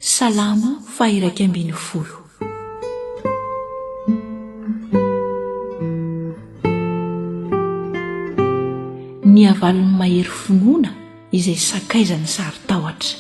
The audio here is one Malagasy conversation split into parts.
Salamo faha-iraika ambin'ny folo. Ny havalon'ny mahery finoana izay sakaizan'ny saron-tahotra.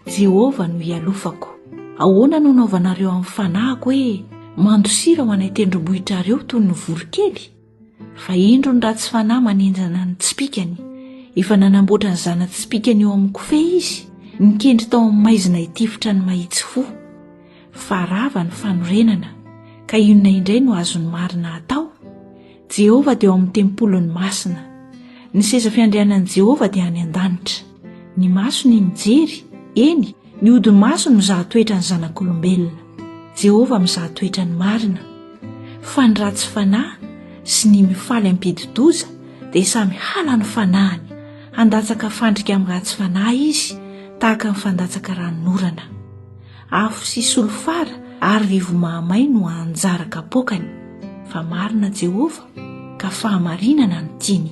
Jehovah no ialofako. Ahoana no anaovanareo amin'ny fanahiko hoe mandosira ho any an-tendrombohitrareo toy ny voronkely? fa indro ny ratsy fanahy manenjana ny tsipikany efa nanamboatra ny zana-tsipikany eo amin'ny kofehy izy nikendry tao amin'ny maizina hitifitra ny mahitsy fo fa rava ny fanorenana ka inona indray no azon'ny marina atao jehovah dia ao amin'ny tempoliny masina ny seza fiandrianan'i jehovah dia any an-danitra Ny masony nijery, eny, ny hodi-masony mizaha toetra ny zanak'olombelona. Jehovah mizaha toetra ny marina. Fa ny ratsy fanahy sy ny mifaly ampidi-doza dia samy halan'ny fanahiny, handatsaka fandrika amin'ny ratsy fanahy izy, tahaka ny fandatsaka ranon'orana. Afo sy solifara ary rivo mahamay no hahanjara kapoakany. Fa marina Jehovah, ka fahamarinana no tiany.